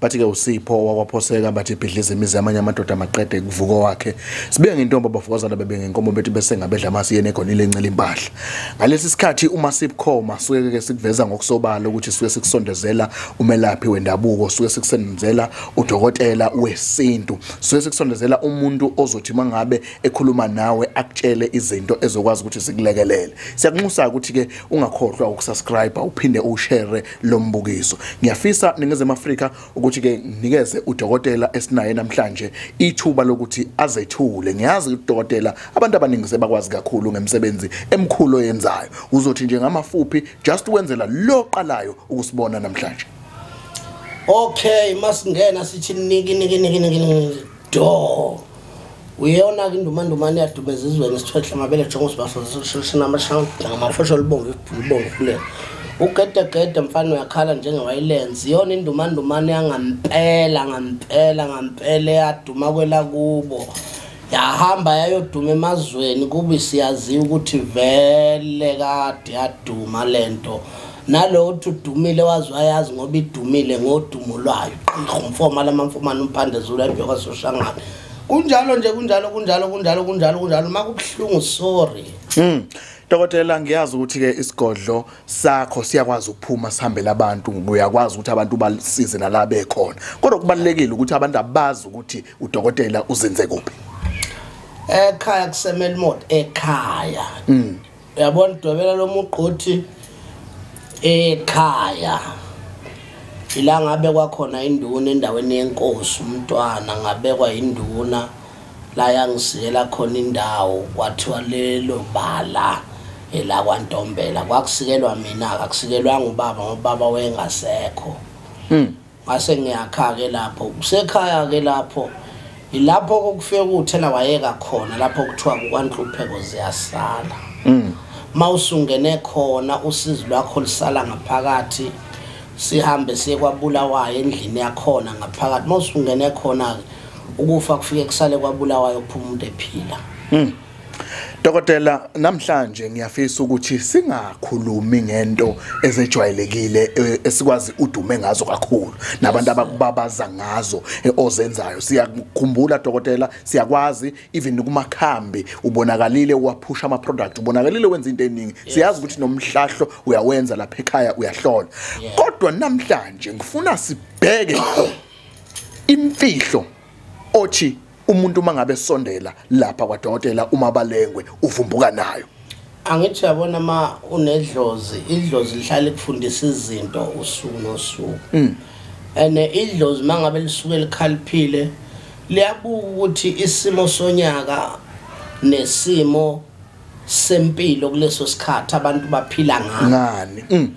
bathi-ke usipho owakwaphoseka bathi ibhidliza imizi yamanye amadoda maqede kuvuko wakhe sibuye ngentombi abafokazana bebengenkomo bethi besengabedla amasi yena egonile encela impahla ngalesi sikhathi uma sibukhoma suke-ke sikuveza ngokusobala ukuthi suke sikusondezela umelaphi wendabuko suke sikusondezela udokotela wesintu suke sikusondezela umuntu ozothi uma ngabe ekhuluma nawe akutshele izinto ezokwazi ukuthi zikulekelele siyakunxusa-ke ukuthi-ke ungakhohlwa ukusubscribe uphinde uwushere lombukiso ngiyafisa ningezema Afrika ukuthi ke nikeze udokotela esinaye namhlanje ithuba lokuthi azethule ngiyazi udokotela abantu abaningi sebakwazi kakhulu ngemsebenzi emkhulu oyenzayo uzothi nje ngamafuphi just wenzela loqalayo ukusibona namhlanje okay masingena sithi niki niki niki niki do uyona ke indumandumane yadumeza izweni isithwehle amabele jongo sibasosishina amashanga ngamafosho olubomvu ibhulubomvu kule ugedegede mfana uyakhala njengewayilenzi iyona indumandumane yangampela ngampela ngampela eyaduma kwela kubo yahamba yayoduma emazweni kubi siyaziwa ukuthi vele kade yaduma le nto nalowo uthi udumile wazi wayazi ngoba idumile ngodumo lwayo qirhu mfoma lama mfumane umphande zulu embe kwasoshangane kunjalo nje kunjalo kunjalo kunjalo kunjalo kunjalo uma kubuhlungu sorry mm. Dokotela ngiyazi ukuthi ke isigodlo sakho siyakwazi ukuphuma sihambele abantu uyakwazi ukuthi abantu basize nala bekhona kodwa kubalekile ukuthi abantu abazi ukuthi udokotela uzenze kuphi ekhaya kusemela imoto ekhaya mm. uyabona udwebela lo mugqothi ekhaya ila ngabekwa khona induna endaweni yenkosi umntwana ngabekwa induna la yangisiyela khona indawo kwathiwa lelo bala elakwantombela kwakusikelwa mina-ke akusikelwanga ubaba ngoba ubaba wayengasekho mm. ngase ngiyakha-ke lapho kusekhaya-ke lapho yilapho kokufike kuthela wayeka khona lapho kuthiwa kukwanhlupheko ziyasala mm. ma usungene khona usizi lwakho lusala ngaphakathi sihambe siye kwabulawayo endlini yakhona ngaphakathi ma usungene khona-ke ukufa kufike kusale kwabulawayo kuphuma umuntu ephila mm. Dokotela namhlanje ngiyafisa ukuthi singakhulumi ngento ezejwayelekile e, esikwazi udume ngazo kakhulu nabantu abakubabaza ngazo e, ozenzayo siyakukhumbula dokotela siyakwazi even kumakhambi ubonakalile uwaphusha ama product ubonakalile wenza into eningi siyazi ukuthi nomhlahlo uyawenza lapha ekhaya uyahlola kodwa namhlanje ngifuna sibheke imfihlo othi umuntu uma ngabe sondela lapha kwadokotela uma balengwe uvumbuka nayo angithi yabona ma unedlozi idlozi lihlale kufundisa izinto usuku nosuku mm. and idlozi mangabe lisuke likhaliphile liyabuka ukuthi isimo sonyaka nesimo sempilo kuleso sikhathi abantu baphila ngani mm.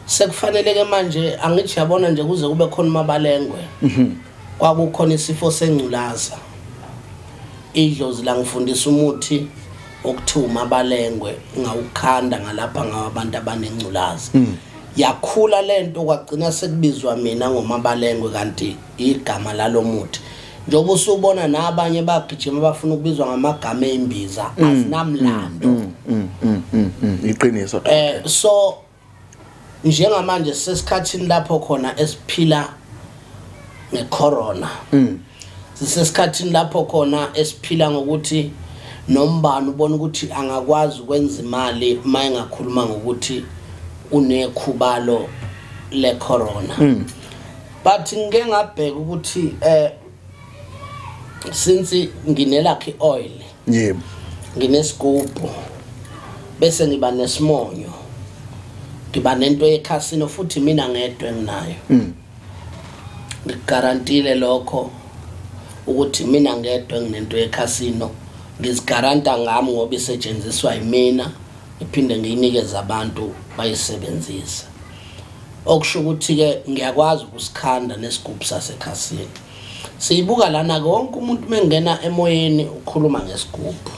sekufanele ke manje angithi yabona nje kuze kube khona umabalengwe mhm. kwakukhona isifo sengculaza idlozi la ngifundisa umuthi okuthiwa umabalengwe ngawukhanda ngalapha ngawabantu abanengculaza mhm. yakhula lento kwagcina sekubizwa mina ngomabalengwe kanti igama lalomuthi njengoba usubona nabanye bagijima bafuna ukubizwa ngamagama embiza mm, azinamlando mm, mm, iqiniso eh so njengamanje sesikhathini lapho khona esiphila ngecorona sisesikhathini lapho khona esiphila ngokuthi nombani ubona ukuthi angakwazi ukwenza imali uma engakhuluma ngokuthi unekhubalo lecorona but ngike ngabheka ukuthi eh since nginelakhi oil yebo nginesigubhu bese ngiba nesimonyo ngiba nento yekhasino futhi mina ngedwa enginayo mm. ngigarantile lokho ukuthi mina ngedwa nginento yekhasino ngizigaranta ngami ngoba isetshenziswa yimina ngiphinde ngiyinikeze abantu bayisebenzise okusho ukuthi-ke ngiyakwazi ukusikhanda nesigubhu sasekhasini siyibuka lana-ke wonke umuntu uma engena emoyeni ukhuluma ngesigubhu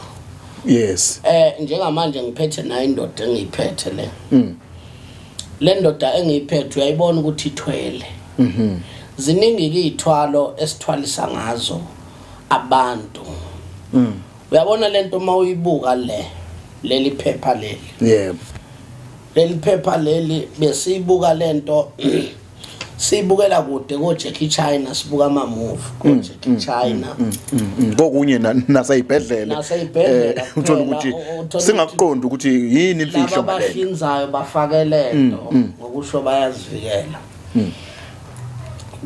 yes eh njengamanje ngiphethe nayo indoda engiyiphethe le mm. le ndoda engiyiphethe uyayibona ukuthi ithwele mhm ziningi izithwalo esithwalisa ngazo abantu mm. uyabona lento uma uyibuka le leli phepha leli yebo yeah. leli phepha leli besiyibuka lento sibukela kude ko Jackie China sibuka ama movie ko mm, Jackie mm, China mm, kokunye naseyibhedlela naseyibhedlela eh, uthola ukuthi singaqondi ukuthi yini imfihlo ngale abahlinzayo bafake lento ngokusho bayazivikela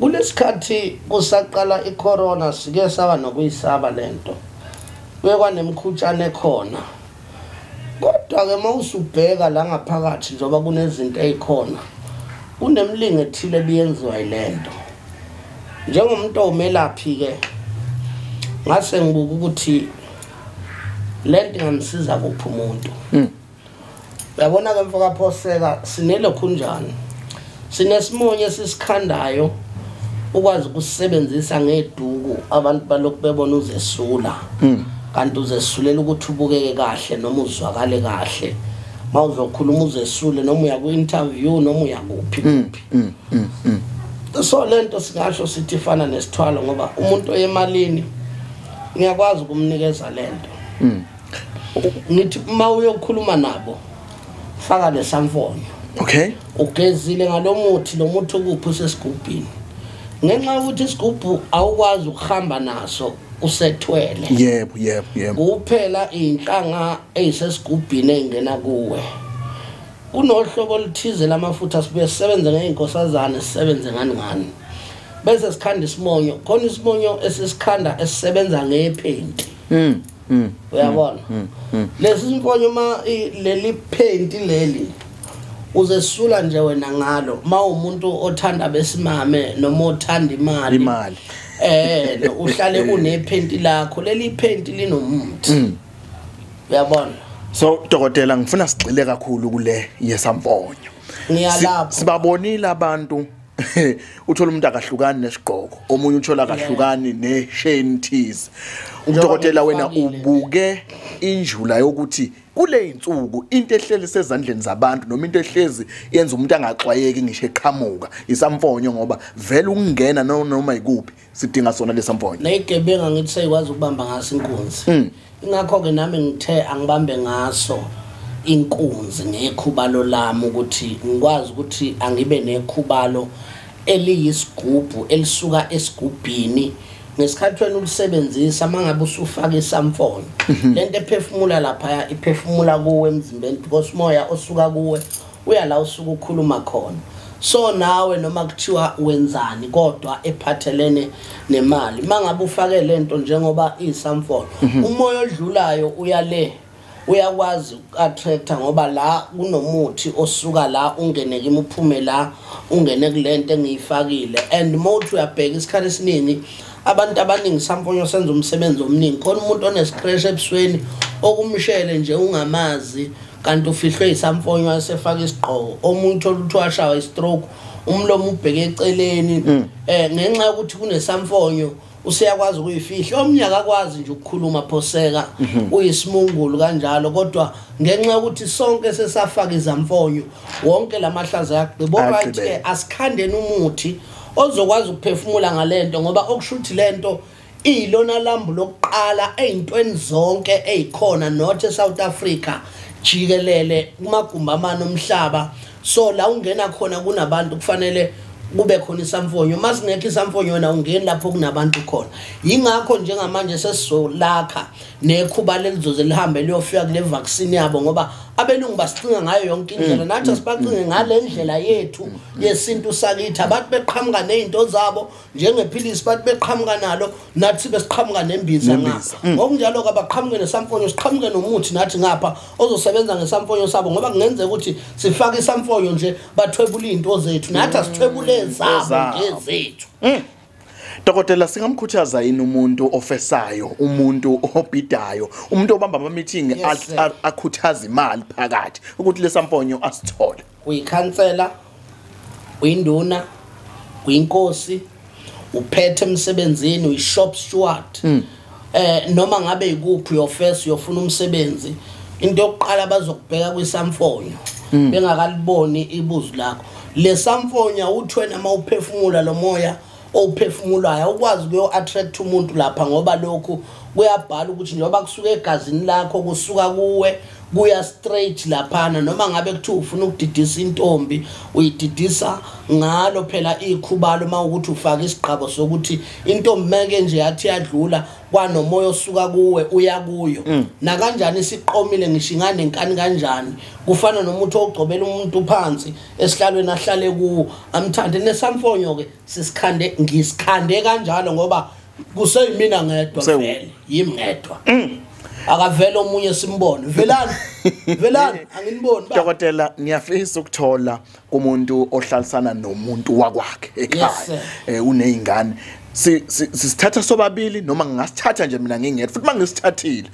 kulesikhathi kusaqala icorona sike saba nokuyisaba lento bekwanemkhutshane khona kodwa-ke uma usubheka la ngaphakathi njengoba kunezinto ey'khona kunemlingo ethile ebiyenziwa yile nto njengomuntu owumelaphi-ke ngase ngibuka ukuthi le nto ingamsiza kuphi umuntu hmm. uyabona-ke mfokaphoseka sinele khunjani sinesimonye esisikhandayo ukwazi ukusebenzisa ngeduku abantu balokhu bebona uzesula hmm. kanti uzesulela ukuthi ubukeke kahle noma uzwakale kahle mawuzokhuluma uzesule noma uya ku interview noma uya kuphi hmm, kuphi hmm, so lento singasho sithi fana nesithwalo ngoba umuntu oyemalini ngiyakwazi ukumnikeza lento ngithi uma uyokhuluma nabo faka lesamfonyo okay ugezile ngalomuthi lomuthi ukuphi usesigubhini ngenxa yokuthi isigubhu awukwazi ukuhamba naso usethwele yebo yebo yebo kuphela inhlanga eyisesigubhini engena kuwe kunohlobo oluthize lamafutha sibuye sisebenze ngey'nkosazane sisebenze ngani ngani bese sikhanda isimonyo khona isimonyo esisikhanda esisebenza ngephenti mm. Mm. Uyabona? Mm. Mm. Lesi simfonyo uma leli paint leli uzesula nje wena ngalo mawumuntu othanda besimame noma othanda imali imali eh uhlale unephenti lakho leli phenti linomuthi mm. uyabona so dokotela ngifuna sigxile kakhulu kule yesamfonyo ngiyalapha sibabonile abantu uthola umuntu akahlukani nesigqoko omunye uthola akahlukani nesheni thize umdokotela wena ubuke injula yokuthi kule insuku into ehleli sezandleni zabantu noma into ehlezi yenza umuntu angaxwayeki ngisho eqhamuka isamfonyo ngoba vele ukungena noma ikuphi sidinga sona lesamfonyo neyigebenga ngithi seyikwazi ukubamba ngaso inkunzi mm. ingakho ke nami ngithe angibambe ngaso inkunzi ngekhubalo lami ukuthi ngikwazi ukuthi angibe nekhubalo eliyisigubhu elisuka esigubhini ngesikhathi wena ulisebenzisa mangabe usufaka isamfoni mhm. lento ephefumula lapha iphefumula kuwe emzimbeni because moya osuka kuwe uya la usuke ukhuluma khona so nawe noma kuthiwa wenzani kodwa ephathelene nemali mangabe ufake lento njengoba isamfolo mhm. umoya odlulayo uya le uyakwazi uku-attracta ngoba la kunomuthi osuka la ungene kimi uphume la ungene kule nto engiyifakile and mothi uyabheka isikhathi esiningi abantu abaningi samponyo senza umsebenzi omningi khona umuntu onesipresha ebusweni okumshele nje ungamazi kanti ufihlwe yisamfonyo asefaka isigqoko omuntu olutho washawa istroke umlomo ubheke eceleni mm. eh ngenxa yokuthi kunesamfonyo useyakwazi ukuyifihla omnye akakwazi nje ukukhuluma phoseka mhm. uyisimungulu kanjalo kodwa ngenxa yokuthi sonke sesafaka izamfonyo wonke lamahlaza yaqhibo right asikhandeni umuthi ozokwazi ukuphefumula ngalento ngoba okushuthi lento iyilona lambu lokuqala eyintweni zonke ezikhona not eSouth Africa jikelele kumagumbi amane omhlaba so la ungena khona kunabantu kufanele kube khona isamfonyo uma singekho isamfonyo wena ungeni lapho kunabantu khona yingakho njengamanje sesizolakha nekhuba lelizoze lihambe liyofika kule vaccine yabo ngoba abelungu basicinga ngayo yonke indlela mm. nathi asibacinge mm. ngale ndlela yethu mm. yesintu sakithi abantu beqhamuka ney'nto zabo njengephilisi bathi beqhamuka nalo nathi besiqhamuka nembiza ngapha mm. ngokunjalo ke abaqhamuke nesamfonyo siqhamuke nomuthi nathi ngapha ozosebenza ngesamfonyo sabo ngoba kungenzeka ukuthi sifake isamfonyo nje bathwebula izinto zethu nathi asithwebule mm. zabo ngezethu mm. Dokotela singamkhuthaza yini umuntu ofesayo, umuntu obhidayo, umuntu obamba ama meeting akhuthaza imali phakathi ukuthi lesamponyo asithole. Uyikhansela, uyinduna, uyinkosi, uphethe emsebenzini, uyishop steward. Mm. Eh noma ngabe ikuphi your first uyofuna umsebenzi, into yokuqala bazokubheka kwisamfonyo mm. bengakaliboni ibuzu lakho. Lesamfonyo uthwena mawuphefumula lomoya owuphefumulayo awukwazi ukuyo-attract umuntu lapha ngoba lokhu kuyabhala ukuthi njengoba kusuka egazini lakho kusuka kuwe kuya straight laphana noma ngabe kuthiwa ufuna ukudidisa intombi uyididisa ngalo phela ikhubalo uma ukuthi ufake isigqabo sokuthi intombi meke nje yathi yadlula kwanomoya osuka kuwe uya kuyo mm. nakanjani isiqomile ngisho inganenkani kanjani kufana nomuthi ogcobela umuntu phansi esihlalweni ahlale kuwo amthande nesamfonyo ke sisikhande ngisikhande kanjalo ngoba kuseyimina ngedwa vele yimi ngedwa mm. akavele omunye simbone velani velani anginiboni dokotela ngiyafisa ukuthola kumuntu ohlalisana nomuntu wakwakhe ekhaya eh, unezingane sisithatha sobabili noma ngingasithatha nje mina ngingedwa futhi mangisithathile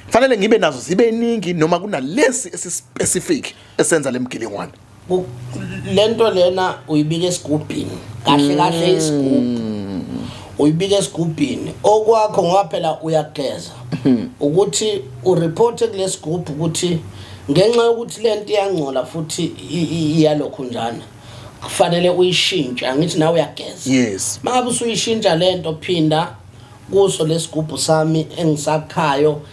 fanele ngibe nazo zibe ningi noma kunalesi esispecific esenza lemgilingwane lento lena uyibika esigubhini kahle kahle mm. isigubhu uyibika esigubhini okwakho ngoba phela uyageza mm-hmm. ukuthi ureporte kulesigubhu ukuthi ngenxa yokuthi lento iyangcola futhi iyalokho njana kufanele uyishintshe angithi nawe uyageza yes mangabe usuyishintsha lento phinda kuso lesigubhu sami engisakhayo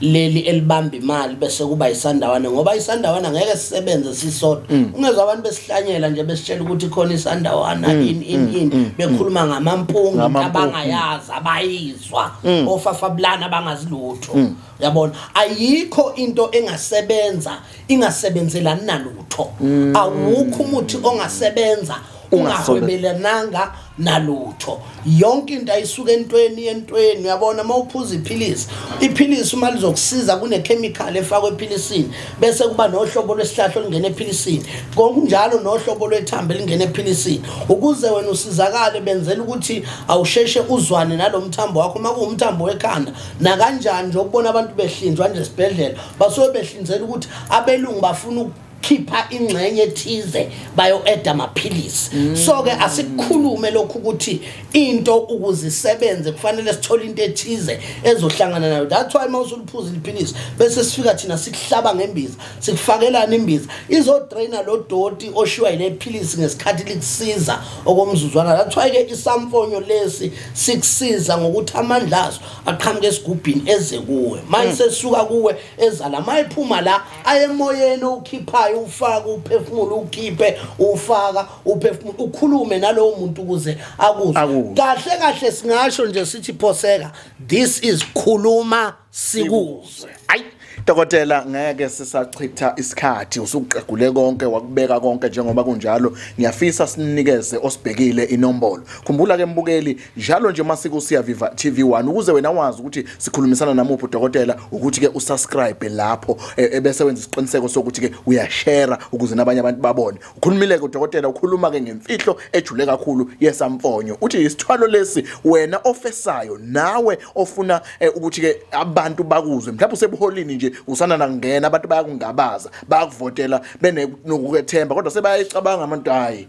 leli elibamba imali bese kuba isandawana ngoba isandawana ngeke sisebenze sisodwa mm. ungezwa abantu besihlanyela nje besitshela ukuthi khona isandawana mm. in in mm. in mm. bekhuluma mm. ngamampungu abangayazi abayizwa mm. ofafabulana abangazilutho mm. yabona ayikho into engasebenza ingasebenzelani nalutho mm. awukho umuthi ongasebenza ungahwebelananga nalutho yonke into ayisuke entweni entweni uyabona uma uphuza iphilisi iphilisi uma lizokusiza kunekhemikhali efakwe ephilisini bese kuba nohlobo lwesihlahla olungena ephilisini ngokunjalo nohlobo lwethambo elingena ephilisini ukuze wena usizakale benzela ukuthi awusheshe uzwane nalo mthambo wakho uma kuwumthambo wekhanda nakanjani nje ukubona abantu behlinzwa nje esibhedlela basuke behlinzela ukuthi abelungu bafuna khipha ingxenye ethize bayo-eda amaphilisi mm. so-ke asikhulume lokhu ukuthi into ukuze isebenze kufanele sithole into ethize ezohlangana nayo that's why uma usuliphuza iliphilisi bese sifika thina sikuhlaba ngembiza sikufakelana imbiza izodraina lo doti oshiwa yile philisi ngesikhathi likusiza okomzuzwana that's why-ke isamfonyo lesi sikusiza ngokuthi amandla aso aqhamuke esigubhini eze kuwe manje mm. sesuka kuwe ezala mayiphuma la ayemoyeni ukhiphayo ufaka uphefumulo ukhiphe ufaka uphefumulo ukhulume nalowo muntu ukuze akuzwe Akuzwe. kahle kahle singasho nje sithi phoseka this is khuluma sikuzwe ayi dokotela ngeke sisachitha isikhathi usuqagule konke wakubeka konke njengoba kunjalo ngiyafisa sinikeze osibhekile inombolo khumbula ke mbukeli njalo nje masiko siya viva TV1 ukuze wena wazi ukuthi sikhulumisana namuphi udokotela ukuthi ke usubscribe lapho e, ebese wenza isiqiniseko sokuthi ke uyashare ukuze nabanye abantu babone ukhulumile ke udokotela ukhuluma ke ngemfihlo ejule kakhulu yesamfonyo uthi isithwalo lesi wena ofesayo nawe ofuna e, ukuthi ke abantu bakuzwe mhlawumbe usebuholini nje usana nangena abantu bayakungabaza bayakuvotela benokukethemba kodwa sebayayicabanga abantu hayi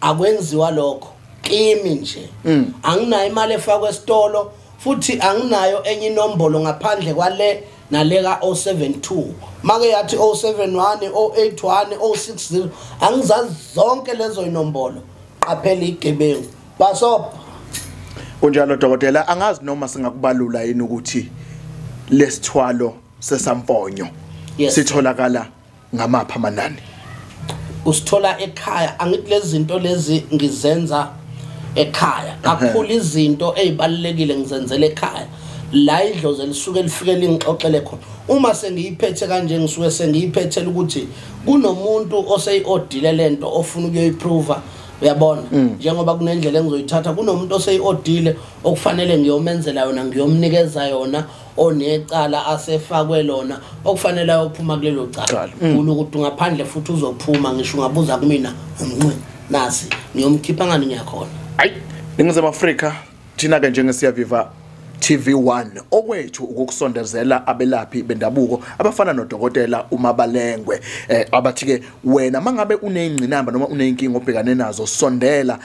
akwenziwa lokho kimi nje mm. anginayo imali efakwa esitolo futhi anginayo enye inombolo ngaphandle kwale nale ka-072 make yathi 071 081 060 angizazi zonke lezo inombolo qaphela igebengu basobha kunjalo dokotela angazi noma singakubalula yini ukuthi lesithwalo sesamponyo sitholakala yes. ngamapha amanani usithola ekhaya angithi lezi zinto lezi ngizenza ekhaya kakhulu izinto ezibalekile ngizenzela ekhaya la idlozi elisuke lifike lingixoxele khona uma sengiyiphethe kanje ngisuke sengiyiphethela ukuthi kunomuntu oseyi-odile le nto ofuna ukuyoyiphruva uyabona mm. njengoba kunendlela engizoyithatha kunomuntu oseyi-odile okufanele ngiyomenzela yona ngiyomnikeza yona onecala asefakwe lona okufanele ayophuma kulelo cala ufuna ukuthi ungaphandle futhi uzophuma ngisho ungabuza kumina umnqini nasi ngiyomkhipha ngani ngiyakhona ayi ningizimu afrika thina-ke njengesiyaviva TV1 okwethu ukukusondezela abelaphi bendabuko abafana nodokotela uMabalengwe eh, abathi ke wena mangabe uneyingcinamba noma uneyinkinga obhekane nazo sondela